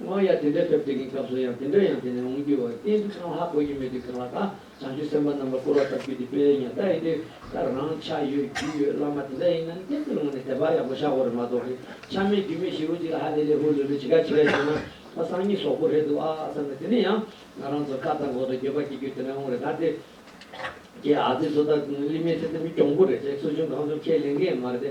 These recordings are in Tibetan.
དབང་ཡང་དེ་འདྲའི་ཐབས་དེ་གའི་སྐབས་སུ་ཡང་དེ་འདྲ་ཡང་དེ་ནས་འོང་རྒྱུ་བ་གཏན་དུ་གང་ལྷག་གོ་རྒྱུ་མེད་དུས་གང་ལ་གང་བྱང་ཆུབ་སེམས་དཔའ་རྣམས་ལ་བསྐོར་བ་ལྟར་རྒྱུད་འདི་སྤེལ་ཡང་ད་ཡིན་དུས་ད་རང་ཆ་ཡོད་རྒྱུས་ཡོད་བླ་མ་དེ་འདྲ་ཡིན་ན་གཏན་དུ་ལོང་ནས་དད་པ་ཡག་པོ་ཤག་གོ་རེ་མ་གཏོགས་གི་ཆ་མེད་རྒྱུས་མེད་ཞིག་རོ་གཅིག་ལ་ཧ་ལས་ལས་ཧུར་ལོས་ལོས་ཇི་ག་ཇི་ག་བྱས་ན་ད་སང་ཉིན་ཟོག་པོ་རེད་འདུག་ཨ་ཨ་བསམ་ནས་དེ་ནས་ཡང་ང་རང་ཚོ་ཁ་བཏགས་འགོག་དང་འགྱོད་པ་སྐྱེ་རྒྱུ་དེ་འདྲ་འོང་རེ་ད་དེ་ཀའི་ཨ་ཙི་ཚོ་ད་གླིང་མའི་ཚེ་ད་མི་གྱོང་པོ་རེད་ཟེར་གསོ་སྦྱོང་གང་བྱུང་ཁས་ལེན་མཁན་ཡང་མ་རེད་དེ་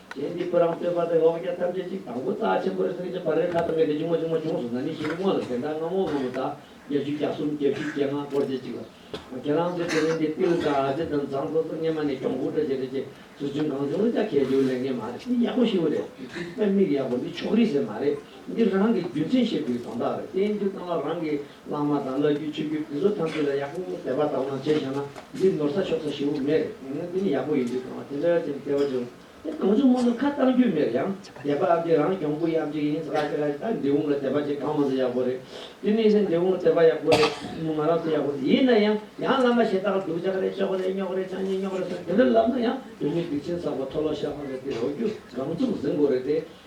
རྗེ་འདི་བུ་རམ་བསྟོད་པ་སྟེ་འོག་རྒྱ་ཐམས་ཅད་གཅིག་དང་པོ་རྩ་ཆེན་པོ་རེ་སེང་གཅིག་བར་རེ་ཁ་དང་ག་དེ་ཆུང་མ་ཆུང་མ་ཆུང་སུ་ན་ནི་ཞེས་དངོས་ལ་ཟེར་འདྲ་རྔ་མོང་ལྷོ་མོ་དག་བརྒྱ་བཅུ་གྱ་གསུམ་བརྒྱད་བཅུ་བརྒྱད་ལྔ་སྐོར་བཅས་གཅིག་ལ། ཁྱེད་རང་ཚོས་དེ་རིང་འདི་ཏིལ་ཟ་རྗེ་དང་ཟངས་གཙང་ཚོ་སྔས་མ་ནས་གྱོང་གུད་འདྲ་བྱས་འདྲ་བྱས་སུ་བྱོན་གང་བྱུང་ལ་ཅག་གལ་ཆེ་བོ་ལས་ངན་མ་རེད་འདི་ཡག་པོ་ཞིག་རེད་དེ། མིག་ཡག་པོ་འདི་ཕྱོགས་རིས་ཟེར་མ་རེད་འདི་རང་གི་རྒྱུ་མཚན་བཤད་དུས་དོན་དག་རེད་བསྟན་འགྱུར་སྟངས་ལ་རང་གི་གླང་མ་དང་གླ་རྒྱུའི་ཆུ་རྒྱུན་དེ་ཚོ་ཐམས་ཅད་ལ་ཡག་པོ་དེ་བ་དང་བླངས་བྱས་བཞག་ན་འདིར་ནོར་ས་ཆོག་ས་ཞེ་བོ་མེད་རེད་ཡིན་ན་དེ་ནི་ཡག་པོ་ཡིན་དུས་གང་བ་དེ་འདྲ་ཅན་དེ་བ་འབྱུང་དེ་གང་བྱུང་མང་དུ་ཁ་བཏང་རྒྱུ་མེད་ཡང་དེ་བ་ཨ་ཀི་རང་གྱོང་གུ་ཡག་ཅིག་ཡིན་ས་ཨ་ཀི་ར་ད་འདི་འོང་ལ་དེ་བ་ཅིག་གང་མང་དུ་ཡག་པོ་རེད་དེ་ནི་ཡིན་ན་འདི་འོང་ལ་དེ་བ་ཡག་པོ་རེད་མོ་ང་རང་ཚོ་ཡག་པོ་རེད་ཡིན་ན་ཡང་ཡང་བླ་མ་ཞེ་ད་ཀ་སྡུག་ཅག་རེད་ཅོག་རེད་རྙོག་རེད་ཆང་ཉེ་རྙོག་རེད་ཟེར་དེ་འདྲ་ལབ་ན་ཡང་བོད་མི་སྡིག་ཆེན་ཟག་པ་ཐོ་ལོ་ཤ་ཁང་རེད་དེ་རོ་རྒྱུ་སྒང་བཙུགས་ཟིན་དགོས་རེད་དེ་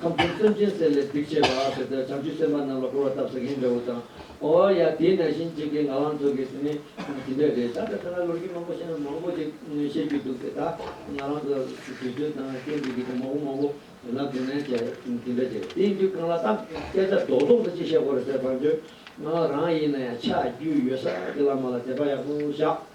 ཁམ་ཕོར་སེམས་ཅན་བསད་ལས་སྡིག་བྱས་པ་ཨ་ཟེར་ཏེ་བྱང་ཆུབ་སེམས་དཔའ་རྣམས་ལ་བསྐོར་བ་བཏབ་ཟེར་མཁན་འདྲ་བོ་དང། ཨོ་ཡ་དེས་ན་གཞན་གཅེས་མཁན་ང་རང་ཚོ་གི་དེ་ནི་དེ་འདྲས་རེད་ད་ལྟ་ད་ལ་ལོ་རྒྱུས་མང་པོ་ཤེས་ན་མང་པོ་ཞིག་ཤེས་རྒྱུ་འདུག་དེ་དག་ང་རང་ཚོ་དུས་ཚོད་དང་སྐྱོན་འཛུགས་རྒྱུ་དེ་མང་པོ་མང་པོ་ལབ་དེ་ན་བྱས་དེ་འདྲ་བྱས་དེ་ཡིན་དུས་གང་ལ་གཏམ་སྐད་ཆ་རྡོག་རྡོག་འདྲ་ཅིག་བཤད་དགོས་རེད་ཟེར་བར་འདོད། ང་རང་ཡིན་ན་ཡང་ཆ་རྒྱུས་ཡོད་ས་དེ་ལ་མ་ལ་དད་པ་ཡག་པོ་བཞག་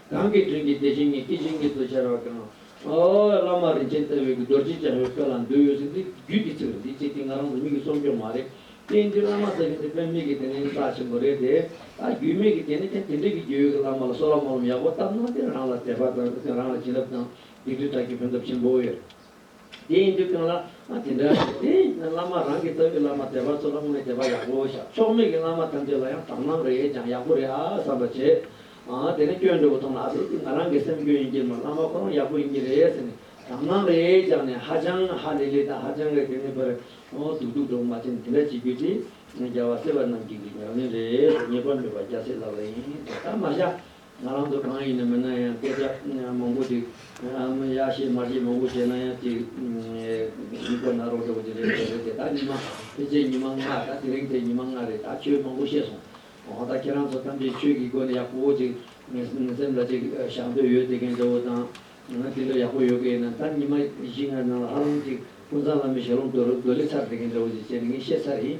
གང་གི་དོན་གྱི་དེ་བཞིན་ཉིད་སྐད་ཅིག་ཉིད་དུ་ཤར་བ་གང། བླ་མ་རིན་ཆེན་རྩ་བའི་གུ་དོར་གྱིས་སྦྱངས་བའི་དཔེ་ལ་འདུལ་འོས་ཟིན་འདི་རྒྱུད་ཀྱི་ཚིག་རེད་འདི་ཅི་སྟེ་ང་རང་ལ་མིག་གིས་སོམ་ཀྱང་མ་རེད། བསྟན་འགྱུར་བླ་མ་ལྟ་བུ་འདི་དཔེ་མེད་ཀྱི་དེ་ནི་རྩ་ཆེན་པོ་རེད་དེ། ད་རྒྱུས་མེད་ཀྱི་དེ་ནས་ཀྱང་དེ་འདྲ་གི་རྒྱུས་ཡོད་ཀྱི་བླ་མ་ལ་གསོལ་བ་དམོད་ལམ་ཡག་པོ་བཏབ་ན་དེ་རང་ལ་དད་པ་དང་དེ་རང་ལ་བྱིན་རླབས་དང་སྡིག་སྒྲིབ་དག་གི་ཕན་ཐོབ་ཆེན་པོ་ཡོད། དེ་ཡིན་དུས་གང་ལ་དེ་འདྲ་བྱེད་དེ་ཡིན་ན་བླ་མ་རང་གི་ལྟ་བུའི་བླ་མ་དད་པ་ཚོ་ལ་དངོས་དད་པ་ཡག་པོ་བཞག་ཕྱོགས་མེད་ཀྱི་བླ་མ་ཐམས་ཅད་ལ་ཡང་དག་སྣང་རེ་ཡོད་ཀྱང་ཡག་པོ་རེད་ཨ་བསམ་པ་བྱེད། དེ་ནས་སྐྱོན་འགྲོ་བ་མཐོང་ན་ཨ་དེ་དེ་ང་རང་གི་སེམས་སྐྱོན་ཡིན་གྱི་མ་བླ་མ་ཁོ་རང་ཡག་པོ་ཡིན་གྱི་རེད་ཟེར་ནས་དག་སྣང་རེ་རྒྱག་ནས་ཧ་ཅང་ཧ་ལི་ལི་དང་ཧ་ཅང་རེ་དེ་ནས་པར་སྡུག་སྡུག་འགྲོ་མ་བྱེད་ནས་དེ་འདྲ་བྱེད་རྒྱུ་དེ་རྒྱལ་བ་སྲས་པ་རྣམས་ཀྱི་གི་ཉམས་ལེན་རེད་ཟེར་ཉེས་པ་མེད་པ་རྒྱ་སེ་ལབ་རེ་ཡིན་དེ་ལྟར་མ་བྱ། ང་རང་ཚོ་གང་ཡིན་ན་མིན་ན་ཡང་སྐད་ཆ་མང་པོ་ཞིག་ཨམ་ཡ་བཤད་མ་བཤད་མང་པོ་བྱས་ན་ཡང་ཅིག་ཡིན་ཁོ་ན་རོགས་ཟེར་བ་དེ་རེད་དེ་རེད་དེ་ད་ཉི་མ་ཕལ་ཆེར་ཉི་མ་ལྔ་ད་དེ་རིང་དེ་ཉི་མ་ལྔ་རེད་ད་ཆོས་མང་པོ་བཤད་སོང་འོ་ད་ཁྱེད་རང་ཚོ་ཐམས་ཅད་ཆོས་ཀྱི་སྒོ་ནས་ཡག་པོ་ཅིག་སེམས་ལ་ཅིག་བཞག་འདོད་ཡོད་དེ་གན་འདོད་བོ་དང་ང་དེ་འདྲ་ཡག་པོ་ཡོད་གི་ཡིན་ན་ད་ཉི་མ་བཞི་ལྔ་ནང་ལ་ཧ་ལམ་ཅིག་ཀུན་བཟང་བླ་མའི་ཞལ་ལུང་དོལ་ལེ་ཚར་དེ་གན་འདྲ་བོ་ཅིག་བྱས་ནས་ངས་བཤད་ཚར་ཡིན།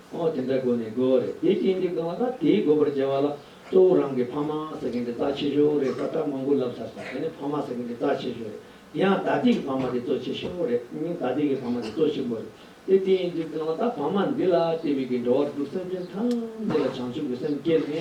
ཨོ་དེ་འདྲ་དགོས་ནི་དགོས་རེད་དེ་ཅི་འདི་དགོས་བ་ད་དེའི་དགོས་པར་བྱས་བ་ལ་གཙོ་བོ་རང་གི་ཕ་མ་ཟེར་མཁན་དེ་རྩ་ཆེ་ཤོས་རེད་ས་ཏྲ་མང་པོ་ལབ་ཚར་ས་དེ་ནི་ཕ་མ་ཟེར་མཁན་དེ་རྩ་ཆེ་ཤོས་རེད་དེ་ཡང་ད་དེ་གི་ཕ་མ་དེ་གཙོ་ཆེ་ཤོས་རེད་སྙིང་ད་དེ་གི་ཕ་མ་དེ་གཙོ་ཆེན་པོ་རེད་དེ་དེ་ཡིན་དུས་དགོས་བ་ད་ཕ་མ་འདི་ལ་བལྟས་པའི་གི་འགྲོ་བ་དྲུག་སེམས་ཅན་ཐམས་ཅད་ལ་བྱང་ཆུབ་ཀྱི་སེམས་སྐྱེ་ནི་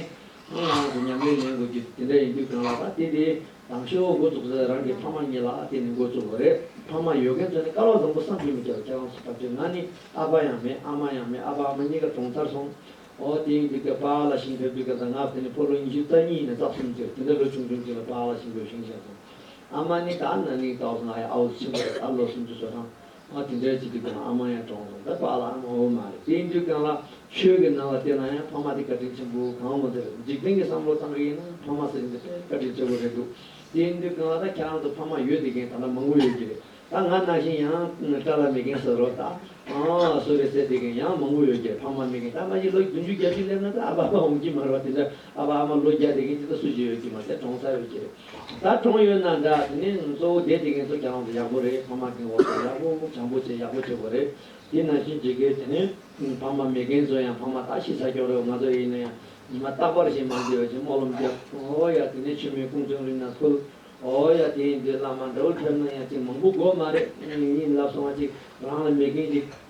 ངའི་ངག་ནང་དུ་ཉམས་ལེན་ལེན་དགོས་ཀྱི་དེ་འདྲ་ཡིན་དུས་གང་ལ་ད་དེ་དེ། དང་ཁྱེད་འོ་འགོ་བཙུགས་ཚེ་རང་གི་ཕ་མ་གཉིས་ལ་ཨ་དེ་ནི་འགོ་བཙུགས་འགོ་རེད་ཕ་མ་ཡོད་མཁན་ཚོ་ནི་དཀའ་བ་བཟང་པོ་བསམ་གྱི་མི་འདུག་ཁྱེད་རང་ཚོ་ལྟ་བུ་ཚོས་ང་ནི་ཨ་ཕ་ཡང་མེད་ཨ་མ་ཡང་མེད་ཨ་ཕ་ཨ་མ་གཉིས་ཀ་གྲོངས་ཚར་སོང་འོ་དེ་ཡིན་དུས་ཀྱང་པཱ་ལ་ཤིང་བོད་སྤུས་ཀ་ཟ་ངག་དེ་ནི་ཕོ་ལོ་ཉི་ཤུ་རྩ་གཉིས་ནས་རྩ་གསུམ་བརྗེ་དེ་འདྲ་ལོ་ཆུང་ཆུང་གཅིག་ལ་པཱ་ལ་ཤིང་བོད་ཤིང་བཞེངས་སོང་ཨ་མ་ནི་ད་ན་ནིང་ད་བཟོ་ང་ཡི་ཨ་བོ་ཆེན་པོ་རེད་ད་ལོ་སུམ་ཅུ་སོ་གྲངས་ང་དེ་འདྲའི་ཚིག་གི་སྟེང་ལ་ཨ་མ་ཡང་གྲོངས་སོང་ད་པཱ་ལགས་ངོ་བོ་མ་རེད་དེའི་འགྲིག་སྟངས་ལ་ཆོས་ཀྱི་ནང་ལ་བལྟས་ན་ཡང་ཕ་མ་དེ་བཀའ་དྲིན་ཆེན་པོ་གང་མོ་འདིར་འཇིག་རྟེན་གྱི་བསམ་བློ་གཙང་གི་ཡིན་ན་ཕ་མ་ཟེར་མཁན་དེ་དཔེ་བཀའ་དྲིན་ཆེ་པོ་རེད་འདུག་དེའི་འགྲིག་སྟངས་ལ་ད་ཁྱེད་རང་ཚོ་ཕ་མ་ཡོད་དེ་མཁན་ད་ལྟ་མང་པོ་ཡོད་ཀྱི་རེད་ད་ང་ན་བཞིན་ཡང་བཀྲ་ལ་མེད་མཁན་ཟེར་རོ་ད་སོ་རེད་ཟེར་དེ་མཁན་ཡང་མང་པོ་ཡོད་ཀྱི་རེད་ཕ་མ་མེད་མཁན་ད་ང་ཡི་ལོ་བདུན་ཅུ་བརྒྱད་ཅུ་སླེབས་ན་ད་ཨ་ཕ་ཨ་མ་འོང་གྱི་མ་རེད་བ་དེ་འདྲ་ཨ་ཕ་ཨ་མ་ལོ་བརྒྱ་དེ་གིན་ཅི་ད་སུ་ཞིག་ཡོད་ཀྱི་མ་རེད་གྲོང་ས་ཡོད་ཀྱི་རེད་ད་གྲོང་ཡོད་ན་འདྲ་དེ་ནས་གཙོ་བོ་དེ་དེ་གིན་ཚོ་གྱང་ཡག་པོ་རེད་ཕ་མ་གིན་འོག་ཏུ་ཡག་པོ་གྱང་པོ་བྱེད་ཡག་པོ་བྱེད་དགོས་རེད་དེ་ནང་བཞིན་བྱེད་དགོས་དེ་ནས་ཕ་མ་མེད་གིན་ཚོ་ཡང་ཕ་མ་ད་ཤི་ས་སྐྱོང་རོགས་ང་ཚོ་ཡིན་ན་ཡང་ཉི་མ་རྟག་པར་ཞིག་མ་འདི་ཡོད་ཅིག་སྨོག་ལོམ་རྒྱབ་ཨོ་ཡ་དེ་ནས་ཆུ་མིག་ཀུན་ཚོན་རིང་ན་ཁུལ་ཨོ་ཡ་དེ་ཡིན་དུས་བླ་མ་འདྲ་བོ་ཕེབས་ན་ཡང་ཅིག་མང་པོ་དགོས་མ་རེད་ཡིན་ལབ་སོང་ང་ཅིག་རང་ལ་མེད་གིན་ཅིག།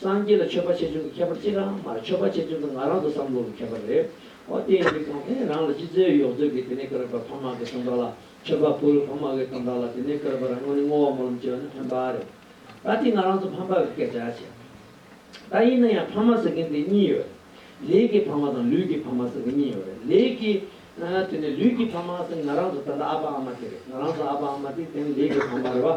སངས་རྒྱས་ལ་མཆོད་པ་བྱེད་ཆོག་གི་ཁྱད་པར་ཅི་རང་མ་རེད་མཆོད་པ་བྱེད་ཆོག་གི་ང་རང་དུ་བསམ་བློ་གི་ཁྱད་པར་རེད། ཨོ་དེ་ཡིན་རིགས་གང་ཕན་རང་ལ་ཅི་རྩོད་ཡོག་རྩོད་གི་དེ་ནས་ཀར་བ་ཕ་མ་གི་སྟོན་པ་ལ་མཆོད་པ་ཕུལ་ཕ་མ་གི་སྟོན་པ་ལ་དེ་ནས་ཀར་བ་རང་ངོ་ནས་བསྔོ་བ་སྨོན་ལམ་བཅོལ་ན་ཕན་པ་རེད། ད་དེ་ང་རང་དུ་ཕམ་པ་གི་སྐད་ཆ་བྱེད། ད་ཡིན་ན་ཡང་ཕ་མ་ཟེར་མཁན་དེ་གཉིས་ཡོད་རེད། ལས་ཀྱི་ཕ་མ་དང་ལུས་ཀྱི་ཕ་མ་ཟེར་མཁན་གཉིས་ཡོད་རེད། ལས་ཀྱི། དེ་ནས་ལུས་ཀྱི་ཕ་མ་ཟེར་ང་རང་དུ་ད་ལྟ་ཨ་ཕ་ཨ་མ་དེ་རེད་ང་རང་དང་ཨ་ཕ་ཨ་མ་དེ་དེ་ནས་ལས་ཀྱི་ཕ་མ་རེད་བ།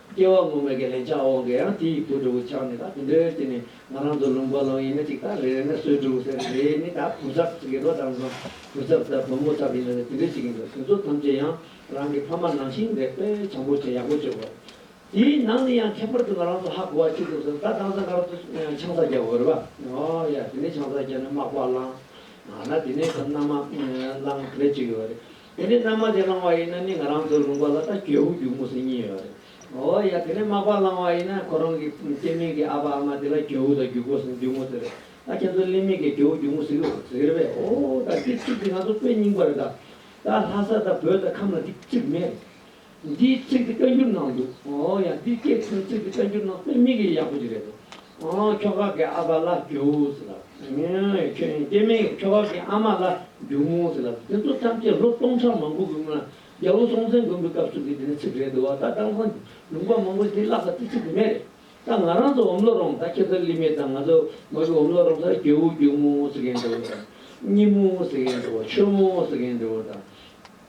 སྐྱེ་བ་མུ་མེད་ཀྱི་ལན་ཆགས་འོང་གི་ཡང་དེ་ཡིག་ཐོག་འབྲུག་ཆགས་ནི་ད་དེ་འདྲའི་དུས་ནས་ང་རང་ཚོ་ལུང་པ་ལོང་ཡིན་ན་ཅིག་དང་རེ་རེ་ན་སོའི་འབྲུག་ཟེར་རེ་ནི་ད་བུ་ཚབ་ཟེར་གི་རོ་དང་འཛོམ་བུ་ཚབ་ད་བུ་མོ་ཚབ་ཡིན་ན་ནི་དེ་འདྲའི་ཞིག་ཡིན་འདུག་དེ་ཚོ་ཐམས་ཅད་ཡང་རང་གི་ཕ་མ་ནང་བཞིན་རེད་པས་བྱམས་པོ་བྱས་ཡག་པོ་བྱོས་དགོས། དེའི་ནང་ནས་ཡང་ཁྱད་པར་དུ་ང་རང་ཚོ་ཧ་གོ་བ་གཅིག་འདུག་ཟེར་ན་ད་དྭངས་གཙང་སྒར་དུ་ཆང་ས་རྒྱག་འོས་པ་ཨོ་ཡ་དེ་ནས་ཆང་ས་རྒྱག་ནས་མག་པ་བླངས་ན་དེ་ནས་ད་མནའ་མ་བླངས་ག་རེ་བྱེད་ཀྱི་ཡོད་རེད། དེ་ནས་རྣམ་མ་བྱས་བླང་བ་ཡིན་ན་ནི་ང་རང་ཚོའི་ལུང་པ་ལ་ད་གྱོད་བུ་རྒྱུག་མུ་སི་གཉིས་ཡོད་རེད། འོ་ཡ་དེ་ནས་མག་པ་བླང་བ་ཡིན་ན་ཁོ་རང་གི་སྐྱེས་མིང་གི་ཨ་ཕ་ཨ་མ་དེ་ལ་གྱོད་བུ་ད་རྒྱུག་པོ་རྒྱུག་མུ་སི་རེད། ད་ཁྱེད་ཚོའི་གླིང་མིང་གི་གྱོད་བུ་རྒྱུག་མུ་སི་གི་ཟེར་གི་རེད་འོ་ད་དེ་ཚིག་དེ་ང་ཚོ་དཔེ་རྙིང་པ་རེད་ད། ད་ལྷ་ས་ད་བོད་ད་ཁམས་ལ་དེ་གཅིག་མེད་རེད། འདིའི་ཚིག་འདི་བཀའ་འགྱུར་ནང་འདུག་ཨོ་ཡ་འདི་སྐད་འཕྲིན་ཚིག་འདི་བཀའ་འགྱུར་ནང་སྟོན་མི་གི་ཡག་པོ་ཅིག་རེད་དོ་ཨོ་ཁྱོ་ག་གི་ཨ་ཕ་ལ་རྒྱུགས་ཟེར་ལབ་ཁྱོད་སྐྱེ་མེད་ཀྱི་ཁྱོ་ག་གི་ཨ་མ་ལ་རྒྱུགས་མོ་ཟེར་ལབ་དེ་ཚོ་ཐམས་ཅད་ལོ་སྟོང་ཕྲག་མང་པོ་གི་སྔོན་ལ་རྒྱལ་པོ་སྲོང་བཙན་མགོན་པོའི་སྐབས་སུ་གི་འདི་ནི་ཚིག་རེད་དོ་བ་ད་དྭངས་སང་ལུང་པ་མང་པོ་འདི་བཀླགས་ས་དེ་ཚིག་དེ་མེད་རེད་ད་ང་རང་ཚོ་འོམ་ལོ་རོང་ད་ཁྱེད་ཚོ་ལི་མི་ད་ང་ཚོ་མོ་གི་འོམ་ལོ་རོང་སར་རྒྱལ་བོ་རྒྱུགས་མོ་ཟེར་གི་འདྲི་བོ་དང་སྙི་མོ་ཟེར་གི་འདྲི་བོ་ཆོས་མོ་ཟེར་གི་འདྲི་བོ་དང།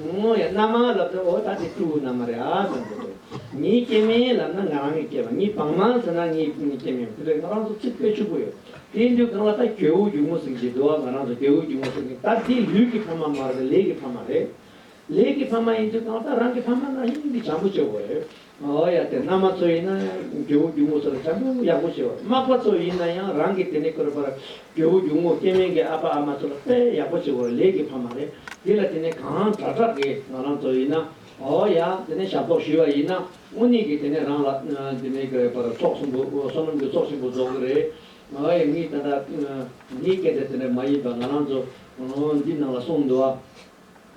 ངོ་ཡ་རྣམ་མང་ལབ་ཏུ་འོ་ད་དེ་སྤྲུལ་སྐུ་རྣམ་མ་རེད་ཨ་ཙམ་རེད་དོ། ངའི་སྐྱེ་མེད་ལབ་ན་ང་རང་གི་སྐྱེ་བ་ངའི་བང་མང་ཟེར་ན་ངའི་སྐྱེ་མེད་དེ་ལས་ང་རང་ཚོ་ཚིག་དཔེ་ཕྱུག་པོ་ཡོད་དེའི་འདུལ་ཁང་ལ་ད་གྱོད་འུ་སྒྱུག་མོ་ཟིག་ཅེས་འདུལ་བ་ང་རང་ཚོ་གྱོད་འུ་སྒྱུག་མོ་ཟེར་གི་ད་འདི་ལུས་ཀྱི་ཕ་མ་མ་རེད་ལས་ཀྱི་ཕ་མ་རེད། ལས་ཀྱི་ཕ་མ་ཡིན་འདུལ་ཁང་ད་རང་གི་ཕ་མ་ན་ཡིན་འདི་བྱམས་པོ་ཆེ་བོ་རེད། ཨོ་ཡ་དེ་མནའ་མ་ཚོ་ཡིན་ན་ཡང་རྒྱལ་བུ་རྒྱུ་མོ་ཚོ་ལ་བྱམས་པོ་ཡག་པོ་བྱེད་པ་དམག་པ་ཚོ་ཡིན་ན་ཡང་རང་གི་དེ་ནས་ཁུར་པར་རྒྱལ་བུ་རྒྱུ་མོ་སྐྱེ་དམན་གྱི་ཨ་ཕ་ཨ་མ་ཚོ་ལ་དཔེ་ཡག་པོ་བྱེད་དགོས་ལས་ཀྱི་ཕ་མ་རེད་འདི་ལ་དེ་ནས་གང་དྲག་དྲག་གི་ང་རང་ཚོ་ཡིན་ན་ཨོ་ཡ་དེ་ནས་ཞབས་ཏོག་ཞུས་པ་ཡིན་ན་དངོས་གནས་ཀྱི་དེ་ནས་རང་ལ་དེ་ནས་ཁུར་པར་ཚོགས་ཆེན་པོ་བསོད་ནམས་ཀྱི་ཚོགས་ཆེན་པོ་རྫོགས་གི་རེད་ཨོ་ཡ་ངའི་ད་ད་ངའི་སྐད་ཆ་དེ་འདྲ་མ་ཡིན་པ་ང་རང་ཚོ་འདི་ནང་ལ་གསུངས་འདུག་ཨ།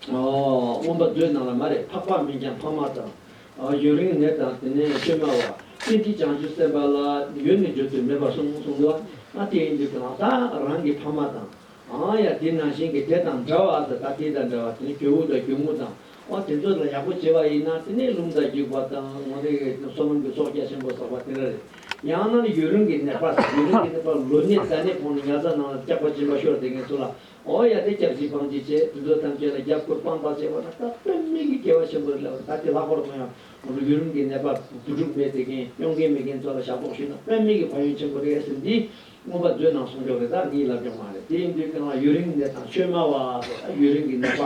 སྔོན་པ་མདོའི་ནང་ལ་མ་རེད་འཕགས་པ་མིན་ཀྱང་འཕགས་མ་དང། ཡུན་རིང་ནས་དང་དེ་ནས་བཅོས་མ་བ། ཀྱེ་འདི་བྱང་ཆུབ་སེམས་དཔའ་ལ་ཡོད་ནི་བརྗོད་དུ་མེད་པར་གསུངས་གསུངས་ཏོ། ཨ་དེ་ཡིན་དུས་དང་ད་རང་གི་འཕགས་མ་དང། ཨང་ཡ་དེ་ནང་བཞིན་གྱི་དེ་དང་འདྲ་བ་ཨ་ད་ད་དེ་དང་འདྲ་བ་དེ་ནི་གྱོ་བོ་དང་གྱོ་མོ་དང། ཨོ་དེ་ཚོ་ལ་ཡག་པོ་བྱེད་པ་ཡིན་ན་དེ་ནི་ལུང་དང་རྒྱུག་པ་དང་ངོ་ནི་སོ་ནམ་གྱི་ཚོགས་རྒྱ་ཆེན་པོ་ཟག་པ་དེ་འདྲ་རེད། ཡང་ན་ནི་ཡུན་རིང་གི་ནད་པ་དང་ཡུན་རིང་གི་ནད་པ་ལོ་ནི་ད་ནི་ཁོང་ནི་ཉལ་ས་ནང་ལ་སྐྱག་པ་སྦྱིན་པ་ཤོར་བསྡད་མཁན་ཚོ་ལ་ཨོ་ཡ་དེ་སྐྱབས་སྦྱིན་སྤང་བྱེད་ཅེས་འདུད་འགྲོ་ཐམས་ཅད་ལ་རྒྱབ་སྐོར་སྤང་བར་བྱེད་པ་ན་སྐབས་དཔེ་མིག་གི་དགེ་བ་ཆེན་པོ་རེ་ལ་བ་ད་ལྟའི་ལྷག་པར་དུ་ཡང་ངོ་བོ་ཡུལ་ལུང་གི་ནད་པ་བུ་ཕྲུག་མེད་དེ་ཁེངས་གཡོག་མཁན་མེད་མཁན་ཚོ་ལ་ཞབས་ཏོག་ཞུས་ན་དཔེ་མིག་གི་བ་ཡོན་ཆེན་པོ་རེད་ཟེར་འདི་སྔོན་པ་མཛོད་ནང་གསུང་ཆོག་རེད་ད་ངའི་ལབ་ཀྱང་མ་རེད་དེ་འདུད་ཀྱང་ལ་ཡུལ་རིང་ནད་དང་ཆོས་སྨྲ་བ་དེ་ལ་ཡུལ་རིང་གི་ནད་པ་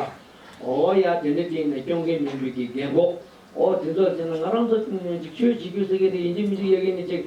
ཨོ་ཡ་དེ་འདྲ་སྐྱེས་ནས་སྐྱོང་མཁན་མིན་དུས་ཀྱི་རྒན་གོག་ཨོ་དེ་ཚོ་བྱས་ན་ང་རང་ཚོ་འཇིག་ཆོས་བྱེད་རྒྱུ་ཟེར་མཁན་དེ་ཡིན་གཅིག་མི་འཇིག་ཡ་གི་མི་འཇིག་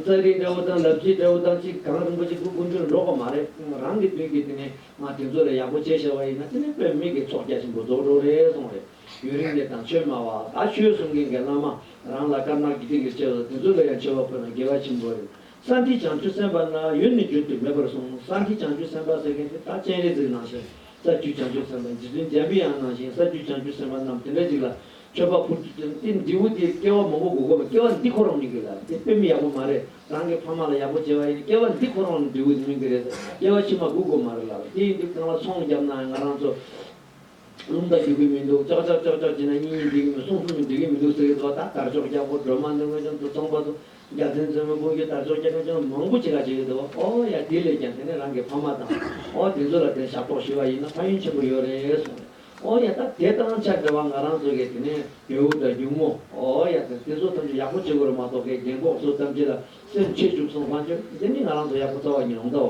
ཙཱ་རིའི་དགྲ་བོ་དང་ལབ་རྗེའི་དགྲ་བོ་དང་གཅིག་གངས་རིན་པོ་ཆེ་སྐུ་དགོན་ཆུར་འགྲོ་གི་མ་རེད་རང་གི་མདུན་གྱི་དེ་ནས་ང་དེ་ཚོ་ལ་ཡག་པོ་བྱེད་ཤེས་བ་ཡིན་ན་དེ་ནས་བོད་མི་གི་ཚོགས་རྒྱ་ཆེན་པོ་རྫོགས་འགྲོ་རེད་སོང་རེད་ཡུན་རིང་ནས་དང་ཆོས་སྨྲ་བ་ད་ཆོས་གསུང་མཁན་གི་བླ་མ་རང་ལ་དཀར་ནག་དགེ་སྡིག་གི་ཆེད་དུ་དེ་ཚོ་ལ་ཡང་ཆེ་བ་ཕོད་ན་དགེ་བ་ཆེན་པོ་རེད་ས་འདིའི་བྱང་ཆུ་སེམས་པ་ན་ཡོད་ནི་བརྗོད་དུ་མེད་པར་སོང་ས་འདིའི་བྱང་ཆུ་སེམས་པ་ཟེར་མཁན་དེ་ད་སྤྱན་རས་གཟིགས་ནང་བཞིན། ས་བཅུའི་བྱང་ཆུབ་སེམས་དཔའ་རྗེ་བཙུན་རྒྱ་མི་ཡང་ནང་བཞིན་ས་བཅུའི་བྱང་ཆུབ་སེམས་དཔའ་རྣམས་དེ་འདྲ་ཅིག་ལ་མཆོད་པ་ཕུལ། དེ་འདི་བུ་དེ་སྐྱེ་བ་མང་པོ་དགུ་གོ་བས་སྐྱེ་བ་འདི་ཁོ་རང་མིན་གྱི་ལ་དེ་དཔེ་མི་ཡག་པོ་མ་རེད་རང་གི་ཕ་མ་ལ་ཡག་པོ་བྱེད་པ་ཡིན་སྐྱེ་བ་འདི་ཁོ་རང་འདི་བུ་དེ་མིན་གྱི་རེད་སྐྱེ་བ་ཕྱི་མ་དགུ་གོ་མ་རེད་ལབ་དེ་ཡིན་དུས་གང་ལ་ཚོང་བརྒྱབ་ནའང་ང་རང་ཚོ་ལུང་བརྡ་རྒྱུག་གི་མི་འདུག་ཅག་ཅག་ཅག་ཅག་བྱེད་ན་གཉིས་གཉིས་འདུས་གི་མི་གསུམ་གསུམ་འདུས་གི་མི་འདུག་ཟེར་གི་འདུག་ད་གར་ཕྱོགས་རྒྱ་སྒོར་སྒྲོལ་མ་ནོར་མོས་ཀྱང་དུ་ཚོང་པ་དུ་རྒྱ་མཚན་མཛོད་མོ་དཔུང་རྒྱུད་དར་ལྕོག་སྐྱེ་ཁམས་ཅན་མང་པོ་ཅི་ག་བྱེད་ཀྱི་འདུག་ཨོ་ཡ་དེ་ལས་ཀྱང་དེ་ནས་རང་གི་ཕ་མ་དང་ཨོ་དེ་ཚོ་ལ་དེར་ཞབས་ཏོག་ཞུས་པ་ཡིན་ན་ཕ་ཡུན་ཆེན་པོ་ཡོད་རེད་གསུངས། ཨོ་ཡ་ད་དེ་ལྟར་རང་ཅག་སྡེ་བ་ང་རང་ཚོ་གི་དེ་ནས་བེའུ་དང་སྒྱུག་མོ་ཨོ་ཡ་དང་དེ་ཚོ་ཐམས་ཅད་ཡག་པོ་བྱེད་དགོས་རུ་མ་གཏོགས་ཁའི་རྒན་ལྐོག་ཟུར་ཐམས་ཅད་ལ་སེམས་ཆེ་བཅུག་སོང་བ་ཅུང་ཟད་མིན་ང་རང་ཚོ་ཡག་པོ་རྩ་བ་ཉིད་འོང་ད་འོ།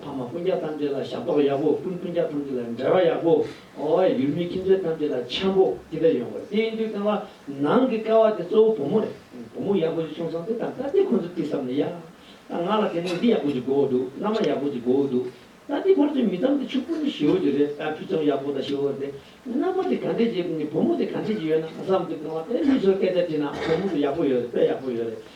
ཕ་མ་སྤུན་རྒྱག་ཐམས་ཅད་ལ་ཞབས་ཏོག་ཡག་པོ་སྤུན་སྤུན་རྒྱག་ཐམས་ཅད་ལ་འབྲེལ་བ་ཡག་པོ་ཨོའེ་ཡུལ་མི་ཁྱིམ་མཚེས་ཐམས་ཅད་ལ་འཆམ་པོ་དེ་ལྟར་ཡོང་དགོས་དེ་ཡིན་དུས་ཀྱང་བ་ནང་གི་ཀ་བ་དེ་གཙོ་བོ་བུ་མོ་རེད་བུ་མོ་ཡག་པོ་ཞིག་བྱུང་སོང་དེ་ད་ལྟ་དེ་ཁོ་ཚོས་བརྩིས་བསམ་ནས་ཡ་ད་ང་ལ་དེ་ནས་འདི་ཡག་པོ་ཞིག་དགོས་འོ་འདུག་མནའ་མ་ཡག་པོ་ཞིག་དགོས་འོ་འདུག་ད་དེ་ཁོར་ཚོས་མི་ཙམ་དེ་ཕྱུག་པོ་ནི་ཞི་འོ་རྒྱུ་རེད་ད་ཕུད་ཙམ་ཡག་པོ་དང་ཞི་འོ་དེ་མནའ་མ་དེ་ག་འདྲས་ཀྱི་བུ་མོ་དེ་ག་འདྲས་ཀྱི་ཡོད་ན་བསམ་དུས་ཀྱང་བ་དེ་མི་ཚོས་སྐད་ཆ་དྲིས་ན་བུ་མོ་དེ་ཡག་པོ་ཡོད་རེད་དཔེ་ཡག་པོ་ཡོད་རེད་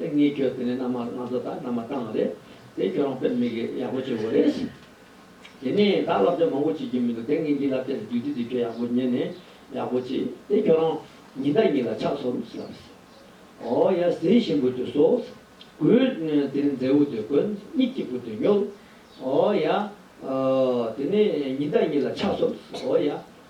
ཨེ་ངའི་ཁྱོད་དེ་ནས་མནའ་མ་ང་ཚོ་དང་མནའ་མ་ཏང་རེད་དེ་ཁྱོད་རང་དཔེར་མི་གི་ཡག་པོ་བྱེད་འོ་རེད། དེ་ནས་ད་བསླབ་བྱ་མང་པོ་བྱེད་ཀྱི་མི་འདུག་དེ་ངེད་ཀྱི་བསླབ་བྱ་དེ་བསྡུས་དུས་དེ་ཁྱོད་ཡག་པོ་ཉན་ནས་ཡག་པོ་བྱས་དེ་ཁྱོད་རང་ཉིན་ལྟར་ཉིན་ལ་ཕྱག་ཚོམ་ཟབ། ཨོ་ཡ་ཟེའི་ཤིང་བུ་དེ་གསོ། གུས། དེ་ནས་མཛེ་བོ་དེ་གོན་གཉིས་སྐྱིད་པོ་དེ་ཉོ། ཨོ་ཡ། དེ་ནས་ཉིན་ལྟར་ཉིན་ལ་ཕྱག་ཚོམ་ཟབ། ཨོ་ཡ།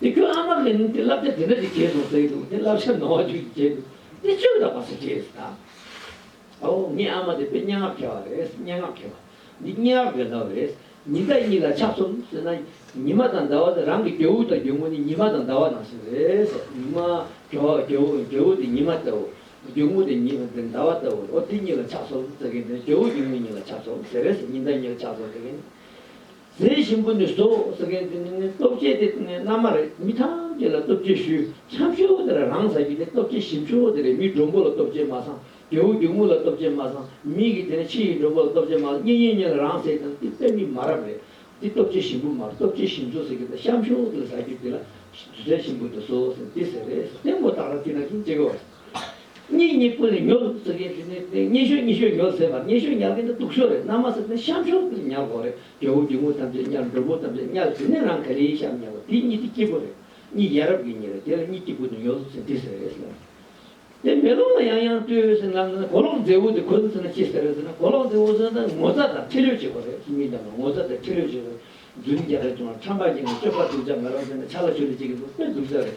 དེ་ཁྱོད་ཨ་མར་ལེན་ནུས་ཏེ་བསླབ་བྱ་དེ་འདྲ་ཞིག་བྱས་སོང་ཟེར་གྱི་འདུག་དེ་བསླབ་བྱ་ནོར་བ་ཅིག་བྱས་འདུག་དེ་ཆོས་དང་མ་ཟེར་རྗེས་སུ་ད་ཨོ་ངའི་ཨ་མ་དེ་བོད་སྙན་ངག་མཁས་བ་རེད་སྙན་ངག་མཁས་པ་འདི་སྙན་ངག་འདོན་ཟླ་བ་རེད་ཉི་ཟླ་གཉིས་ལ་ཆགས་སོང་ཟེར་ན་ཉི་མ་དང་ཟླ་བ་དེ་རང་གི་རྒྱལ་བོ་དང་རྒྱལ་མོ་ནི་ཉི་མ་དང་ཟླ་བ་ནང་བཞིན་རེད་ཉི་མ་རྒྱལ་བོ་རྒྱལ་བོ་དེ་ཉི་མ་ལྟ་བུ་རྒྱལ་མོ་དེ་ཉི་ཟླ་བ་ལྟ་བུ་རེད་ཨོ་དེ་གཉིས་ལ་ཆགས་སོང་ཟེར་གྱི་འདུག་རྒྱལ་བོ་རྒྱལ་མོ་གཉིས་ལ་ཆགས་སོང་ཟེར་རེས་ཉི་ཟླ་གཉིས་ལ་ཆགས་སོང་ཟེར་གྱི་འདུག། ཟས་ཞིམ་པོ་ནི་བཟོ་ཟེར་མཁན་དེ་ནི་ནི་སྟོབས་ཆེ་དེ་ནི་མནའ་མ་རེད་མི་ཐམས་ཅད་ལ་སྟོབས་ཆེ་ཞུ་འཆམ་ཤོག་དེ་ར་རང་ཟ་གི་ནི་སྟོབས་ཆེ་ཞིམ་ཤོག་དེ་རེད་མི་འགྲོ་མགོ་ལ་སྟོབས་ཆེ་མ་སང་རྒྱལ་བོ་རྒྱུག་མོ་ལ་སྟོབས་ཆེ་མ་སང་མི་གི་དེ་ནི་ཕྱི་ཡི་འགྲོ་མགོ་ལ་སྟོབས་ཆེ་མ་སང་གཉེན་ཉེ་ཉེ་ལ་རང་ཟས་དང་དེ་པད་མི་མ་རབས་རེད་དེ་སྟོབས་ཆེ་ཞིམ་པོ་མ་རེད་སྟོབས་ཆེ་ཞིམ་བཟོ་ཟེར་གི་དེ་ཤམ་ཤོག་དེ་ལ་ཟ་རྒྱུ་དེ་ལ་ཟས་ཞིམ་པོ་དེ་བཟོ་ཟེར་དེ་ཟེར་རེད་ཟེར་དེ་མོ་བཏགས་ན་དེ་ན་གིན་ཅེ་གི་བ། གཉིས་གཉིས་ཀུན་ལས་ཉོ་རུ་ཟེར་ཡས་ཞུ་ནས་དེ་གཉིས་ཤོད་གཉིས་ཤོད་ཉོ་ཟེར་བར་གཉིས་ཤོད་ཉག་གི་འདི་སྡུག་ཤོད་རེད་ནང་མ་ཟེར་ནས་ཤམ་ཤོད་ཀྱི་ཉག་གོ་རེད་རྒྱལ་བོ་རྒྱལ་མོ་ཐམས་ཅད་ཉག་འགྲོན་པོ་ཐམས་ཅད་ཉག་ཟེར་ནས་རང་ག་རེའི་ཤམ་ཉག་གོ་དེ་གཉིས་དེ་སྐྱིད་པོ་རེད་གཉིས་ཡ་རབས་ཀྱི་གཉིས་རེད་དེ་ལ་གཉིས་སྐྱིད་པོ་དེ་ཉོ་ཟེར་འདི་ཟེར་ཟེར་ནས། དེ་མེ་ལོང་ལ་ཡང་ཡང་ལྟོས་ཟེར་ནས་ལམ་ཟེར་ན་གོ་ལོག་མཛེས་བོ་དེ་གོན་ཟེར་ན་ཅི་ཟེར་ཟེར་ན་གོ་ལོག་མཛེས་བོ་ཟེར་ན་ངོ་ཚ་དང་ཁྲེལ་ལོས་བྱེད་པ་རེད་ཁྱི་གཉིས་རྣམས་ལ་ངོ་ཚ་དང་ཁྲེལ་ལོས་བྱེད་པ་རེད་རྫུན་རྒྱག་རེད་བྱུང་ན་ཁྲམ་པ་བྱས་ནས་སྤྱོད་པ་སྡུག་ཅག་མེད་རོགས་ཟེར་ནས་ཆ་ལ་ཤོད་རེ་བྱེད་ཀྱི་འདུག་དཔེ་སྡུག་ཅག་རེད།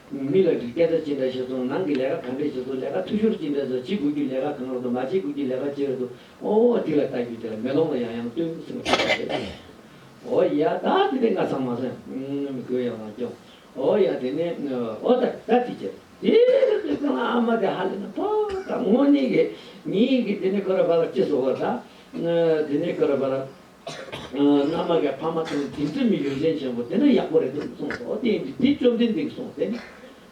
མི་ལ་སྒྲིག་སྐྱ་སྒྲ་ཅི་འདྲ་བྱེད་སོང་ནང་གི་ལས་ཀ་གང་འདྲས་བྱེད་སོང་ལས་ཀ་འཐུས་ཤོར་ཅི་འདྲས་སོང་བྱེད་དགོས་རྒྱུ་ལས་ཀ་གང་རག་ཏུ་མ་བྱེད་དགོས་རྒྱུ་ལས་ཀ་ཅི་རག་ཏུ་ཨོ་དེ་ལ་བལྟ་རྒྱུ་དེ་ལ་མེ་ལོང་ལ་ཡང་ཡང་ལྟོས་འདུག་སེམས་ཁྲལ་བྱེད་ཀྱི་རེད་ཨོ་ཡ་ད་དེ་ལྟས་ང་ཚང་མ་ཟ་མི་དགོས་ཡ་མ་སྐྱོ་ཨོ་ཡ་དེ་ནས་ཨོ་ད་ད་དེ་ཅི་རེད་དེ་རེད་དེ་ཁོ་ན་ཨ་མ་དེ་ཧ་ལས་ན་ཕོ་ད་ངོ་ནི་གི་ཉི་གི་དེ་ནས་ཁོ་ར་བ་ལ་ཅི་ཟོ་བ་ད་དེ་ནས་ཁོ་ར་བ་ལ། མནའ་མ་གའི་ཕ་མ་དང་དེ་འདྲ་མི་ཡོན་ཏན་ཅན་པོ་དེ་འདྲ་ཡག་པོ་རེད་འདུག་གསུངས་སོ་དེ་འདྲ་དེ་བཅོམ་ལྡན་འདས་ཀྱིས་གསུངས་ཟེར།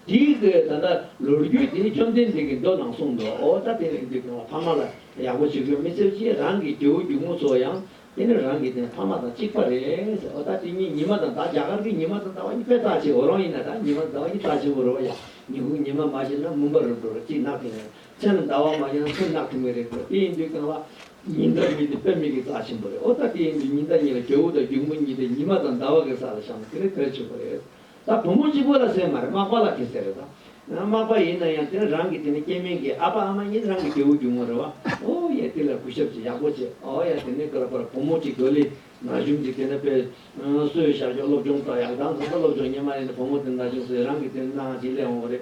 དེའི་ཚེ་ད་ལྟ་ལོ་རྒྱུས་དེ་བཅོམ་ལྡན་འདས་ཀྱིས་མདོ་ནང་གསུངས་འདུག་ད་དེ་རིང་དུས་ཀྱང་ཕ་མ་ལ་ཡག་པོ་བྱེད་དགོས་མི་ཟེར་གྱིས་རང་གི་རྒྱལ་བོ་རྒྱུ་མོ་ཚོ་ཡང་དེ་ནི་རང་གི་དེ་ཕ་མ་དང་གཅིག་པ་རེད་ཟེར་ཨོ་ད་དེ་གཉིས་ཉི་མ་དང་ཟླ་རྒྱ་གར་གྱི་ཉི་མ་དང་ཟླ་བ་གཉིས་པའི་རྟགས་ཆེ་བོ་རང་ཡིན་ན་ད་ཉི་མ་དང་ཟླ་བ་གཉིས་རྟགས་ཆེན་པོ་རེད་བ་ཡ་ཉི་ཧུ་ཉི་མ་མ་བྱེད་ན་མུན་པ་རུ་འགྲོ་རུ་གཅིག་གནག་ཐུབ་ངེས་རེད་མཚན་ལ་ཟླ་བ་མ་བྱེད་ན་མཚོན་གནག་ཐུབ་ངེས་རེད་དེ་འདྲ་དེ་ཡིན་དུས་ཀྱང་བ། ཉི་ཟླ་གཉིས་དེ་པདྨའི་གི་རྩ་ཆེན་པོ་རེད་ཨོ་ད་དེ་ཡིན་དུས་ཉི་ཟླ་གཉིས་ལ་གྱོ་བོ་དང་སྒྱུག་མོ་གཉིས་དེ་ཉི་མ་དང་ཟླ་བ་གི་ས་ལ་བཞག་ན་དེ་ལས་གལ་ཆེ་བོ་རེད་ད་བུ་མོ་གཅིག་པོ་ལ་ཟེར་མ་རེད་མག་པ་ལགས་ཀྱི་ཟེར་རེད་ད། མག་པ་ཡིན་ན་ཡང་དེ་ནི་རང་གི་དེ་ནི་སྐྱེ་དམན་གི་ཨ་ཕ་ཨ་མ་གཉིས་ནི་རང་གི་གྱོ་བོ་སྒྱུག་མོ་རེད་བ་ཨོ་ཡ་དེ་ལ་གུས་ཞབས་ཅིག་ཡག་པོ་བྱེད་ཨོ་ཡ་དེ་ནི་ག་ལ་པར་བུ་མོ་གཅིག་དོ་ལི་ན་གཞུང་གཅིག་དེ་ནི་པེ་སོའི་ཤར་ཕྱོགས་སློབ་སྦྱོང་ད་ཡག་དང་གང་ད་སློབ་སྦྱོང་ཉེ་མ་ཡིན་དུ་བུ་མོ་དེ་ནི་ད་གཞུང་སོའི་རང་གི་དེ་ནི་སྣ་ཧང་ཅིག་ལས་འོང་བ་རེད་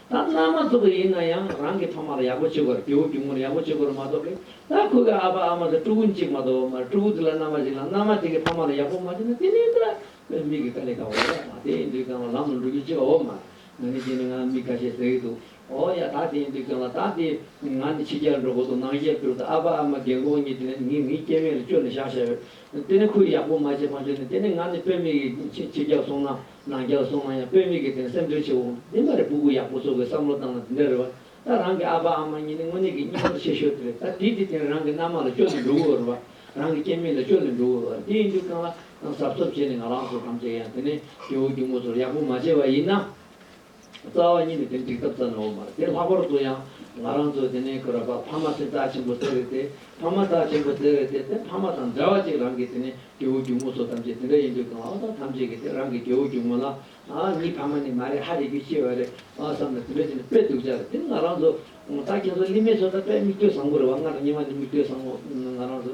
ད་བླ་མ་ཟུག་པ་ཡིན་ན་ཡང་རང་གི་ཐོག་མར་ཡག་པོ་བྱེད་དགོས་རེད་རྒྱུ་བོ་རྒྱུ་མོར་ཡག་པོ་བྱེད་དགོས་རེད་མ་གཏོགས་པས་ད་ཁོ་གི་ཨ་ཕ་ཨ་མ་དང་སྤྲུལ་སྐུ་གཅིག་མ་གཏོགས་བ་མ་རེད་སྤྲུལ་སྐུ་དེ་ལ་མནའ་མ་བྱིན་ལ་མནའ་མ་དེ་གི་ཕ་མ་ལ་ཡག་པོ་མ་བྱིན་ན་དེ་ནས་ད་ཁོའི་མིག་གི་ཀ་ལི་ཀ་འོ་ཡ་ད་དེ་ཡིན་དུས་ཀྱང་བ་ལམ་ལ་འགྲོ་རྒྱུ་ཅི་ག་འོ་མ་ང་ནི་དེ་ནི་ང་མིག་ཁ་ཤས་ཟེག་འདུག་འོ་ཡ་ད་དེ་ཡིན་དུས་ཀྱང་ལ་ད་དེ་ང་ནི་ཕྱི་རྒྱལ་འགྲོ་དགོས་འདུག་ནང་རྒྱལ་སྤྲུལ་ད་ཨ་ཕ་ཨ་མ་རྒན་རྒོན་གཉིས་དེ་ནས་ངེད་ངེད་སྐྱེ་མེད་ལ་བཅོལ་ནས་བཞག་བཞག་ཡོད་དེ་ནས་ཁོས་ཡག་པོ་མ་བྱེད་ཕ་མཆོད་ནས་དེ་ནས་ང་ནི་དཔེར་མིག་གི་ཕྱི་རྒྱལ་སོང་ན། ནང་རྒྱ་བཟོ་མང་ཡང་དཔོན་མིག་གི་སྟེང་སེམས་ཁྲལ་ཆེ་བོ་འདི་མ་རེད་སྤུ་གུ་ཡག་པོ་བཟོ་དགོས་བསམ་བློ་བཏང་ན་འདི་འདྲ་རེད་བ་ད་རང་གི་ཨ་ཕ་ཨ་མ་གཉིས་ནི་དངོས་གནས་ཀྱི་སྙིང་སྟོབས་ཆེ་ཤོས་དེ་རེད་ད་དུས་དེ་དེང་རང་གི་མནའ་མ་ལ་སྐྱོ་ནས་འགྲོ་གི་འོ་རེད་བ་རང་གི་སྐྱེ་མི་ལ་སྐྱོ་ནས་འགྲོ་གི་འོ་རེད་དེ་ཡིན་དུས་རྐང་ལག་རྐང་གཟབ་གཟབ་བྱས་ནས་ང་རང་ཚོ་དམ་བཅའ་ཡང་དེ་ནས་སྐྱེ་བོ་སྐྱུག་མོ་ཚོར་ཡག་པོ་མ་བྱས་བ་ཡིན་ན། རྩ་བ་གཉིས་ནི་དེ་འགྲིག་ཐབས་ཙམ་ལས་འོང་མ་རེད་དེ་ལྷག་པར་དུ་ཡང་ང་རང་ཚོ་དེ་ནས་ཁོ་ར་བར་ཕ་མ་དེ་བདག་ཆེན་པོ་བཙལ་བས་དེ་ཕ་མ་བདག་ཆེན་པོ་བཙལ་བས་དེ་དེ་ཕ་མ་དང་འདྲ་བ་ཅིག་རང་གི་དེ་ནས་སྐྱེ་བོ་སྒྱུག་མོ་སོགས་ཐམས་ཅད་དེ་འདྲ་ཡིན་དུས་གང་ལྟར་ཐམས་ཅད་ཀྱིས་དེ་རང་གི་སྐྱེ་བོ་སྒྱུག་མོ་ལ་ཨ་ནི་ཕ་མ་ནི་མ་རེད་ཧ་རེ་རྒྱུ་ཤེས་བ་རེད་ཨ་བསམ་ནས་དེ་འདྲ་བྱས་ནས་དཔེ་དུག་བཅག་རེད་དེ་ནི་ང་རང་ཚོ་བདག་ཁྱེད་ཚོ་གླིང་མེད་ཚོ་ད་དཔེ་མིག་ལྟོས་བཟང་པོ་རེད་བ་ང་དང་ཉི་མ་ནི་མིག་ལྟོས་བཟང་པོ་ང་རང་ཚོ་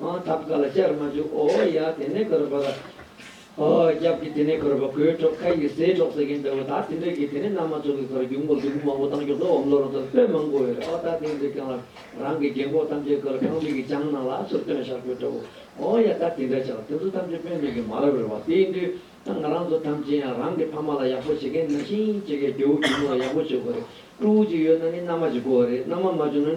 ཨོ། ཐབ་ཀ་ལ་བཅར་མ་བཅུག་ཨོ། ཡ། དེ་ནས་གོས་ར་བོད་ར། ཨོ། རྒྱབ་ཀྱི་དེ་ནས་གོས་ར་བོ་གོས་ཁྲོག་ཁ་ཡིས་ཟས་ཁྲོག་ཟེར་གིན་པའོ། ད་དེ་འདྲ་གི་དེ་ནས་ནང་མ་ཚོགས་ཀྱི་ཁར་རྒྱུག་མགོ་རྒྱུག་མགོ་མང་པོ་བཏང་ཆོག་ཟོག་འམ་ལོ་ར་ཚོར་དཔེ་མང་པོ་ཡོད་རེད་ཨོ། ད་དེ་འདྲ་རྐྱང་ལ་རང་གི་རྒྱན་གོག་ཐམས་ཅད་བཀོལ་ཁང་མིག་གི་བྱང་ནང་ལ་ཚུར་སྟོན་བཞག་གྱོ་འདྲ་བོ། ཨོ། ཡ། ད་དེ་འདྲ་ཆགས་དེ་ཚོ་ཐམས་ཅད་དཔོན་མེད་ཀྱི་མ་རབས་རེད་བ། དེའི་དུས་ད་ང་རང་ཚོ་ཐམས་ཅད་ཡང་རང་གི་ཕ་མ་ལ་ཡག་པོ་བྱེད་མཁན་ན་ཤིང་བྱེད་མཁན་རྒྱོ་བོ་གྱོ་མོ་ལ་ཡག་པོ་བྱེད་དགོས་རེད། ཀྲུའུ་ཅིག་ཡོད་ན་ནི་མནའ་མ་བྱེད་དགོས་བ་རེད་མནའ་མ་མ་བྱུང་ན་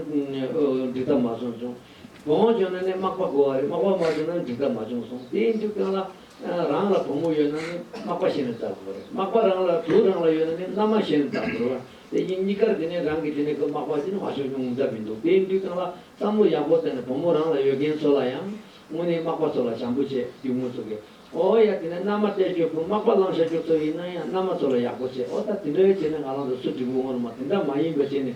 འགྲིག་ཐབས་མ་སོང་བྱུང། བུ་མོ་བྱུང་ན་ནི་མག་པ་འགོ་བ་རེད་མག་པ་མ་བྱུང་ན་འགྲིག་ཐབས་མ་བྱུང་གསུངས་དེའི་མཇུག་སྐྱོང་ལ། རང་ལ་བུ་མོ་ཡོད་ན་ནི་མག་པ་གཞན་ལ་བཙག་དགོས་རེད་མག་པ་རང་ལ་བུ་རང་ལ་ཡོད་ན་ནི་མནའ་མ་གཞན་ལ་བཙག་དགོས་རེད་དེ་བཞིན་གཉིས་ཀར་དེ་ནས་རང་གི་དེ་ནས་ཁོས་མག་པ་ཅི་ནས་མ་བྱུང་ཉུང་འདྲ་མི་འདུག་དེའི་མཇུག་སྐྱོང་ལ་བསམ་བློ་ཡག་པོ་བཏང་ནས་བུ་མོ་རང་ལ་ཡོད་མཁན་ཚོ་ལ་ཡང། དངོས་གནས་མག་པ་ཚོ་ལ་བྱམས་པོ་བྱེད་རྒྱུ་དངོས་གཙོ་གི། ཨོ་ཡ་དེ་ནས་མནའ་མ་སྟེར་རྒྱུ་ཕུད་མག་པ་བླངས་བཞག་རྒྱུ་ཚོ་ཡིན་ན་ཡང་མནའ་མ་ཚོ་ལ་ཡག་པོ་བྱེད་ཨོ་ད་དེ་འདྲ་བྱས་ན་ང་རང་ཚོ་སུ་འགྲིག་འོ་ངོ་ནི་མ་དེ་འདྲ་མ་ཡིན་པ་བྱས་ནས་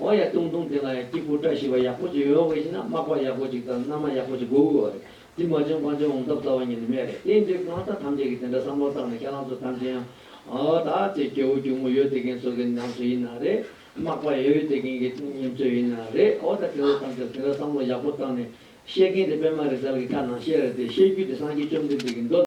ཨོ་ཡ་ཏུང་ཏུང་དེ་ལ་ཡང་སྐྱིད་པོ་བཀྲ་ཤིས་པ་ཡག་པོ་ཅིག་ཡོད་དགོས་ཤེ་ན་དམག་པ་ཡག་པོ་ཅིག་དང་མནའ་མ་ཡག་པོ་ཅིག་དགོས་དགོས་བ་རེད་དེ་མ་བྱུང་གང་བྱུང་འོང་ཐབས་རྩ་བ་ཉིད་ནས་མེད་རེད་དེ་འདྲའི་གང་ཟག་ཐམས་ཅད་ཀྱིས་དེ་འདྲ་བསམ་བློ་བཏང་ནས་ཁྱེད་རང་ཚོ་ཐམས་ཅད་ཡང་ཨོ་ད་ཚེ་སྐྱེ་བོ་གྱུར་མོ་ཡོད་དེ་མཁན་ཚོ་གི་ཉམས་སུ་ཡིན་ན་རེད་དམག་པ་ཡོད་དེ་མཁན་གྱི་ཉམས་སུ་ཡིན་ན་རེད་ཨོ་ད་ཁྱེད་ཚོ་ཐམས་ཅད་དེ་འདྲ་བསམ་བློ་ཡག་པོ་བཏང་ནས་བཤད་མཁན་དེ་པད་མ་རི་ཐར་གྱི་ཁ་ནང་བཤད་རེད་དེ་བཤད་རྒྱུ་དེ་སངས་རྒྱས་བཅོམ་ལྡན་འདས་ཀྱི་མདོ།